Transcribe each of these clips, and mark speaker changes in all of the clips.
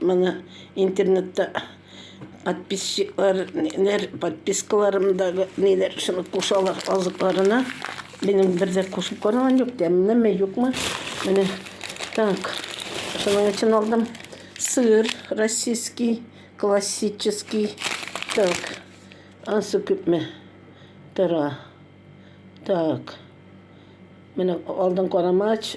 Speaker 1: Моны интернетта подписчиклар, ниләр, подпискаларым да, ниләр, шуны кушалар азыкларына. Минем бер дә кушып караган юк, тәмлеме, юкмы. Менә так. Шуның өчен алдым сыр российский, классический. Так. Ансы күпме? Тора. Так. Менә алдым карамач.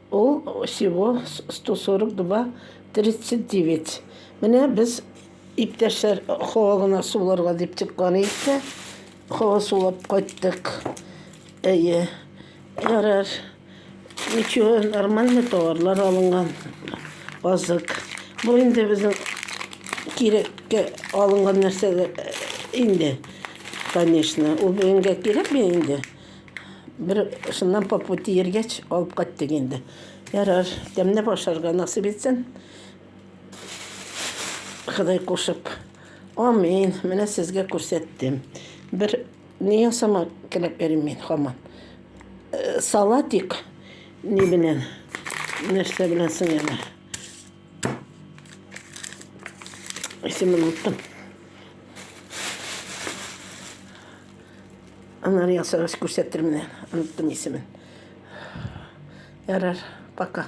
Speaker 1: Ул всего 142 39. Менә без иптәшләр хава гына суларга дип чыккан идек тә, хава сулап кайттык. Әйе. Ярар. Ничего, нормальный товарлар алынган. Базык. Бу инде безнең кирәккә алынган нәрсәләр инде. Конечно, ул бенгә кирәкме инде? Бер шуннан по пути йөргәч, алып кайттык инде. Ярар, тәмләп ашарга насыйп итсен. Ходай кушып. Амин. Менә сезгә күрсәттем. Бер ни ясама теләп йөрим мин хаман. Э, салатик ни белән? Нәрсә белән соң әле? Исемен оттым. Аннары ясагач күрсәтермен, оныттым исемен. Ярар, пока.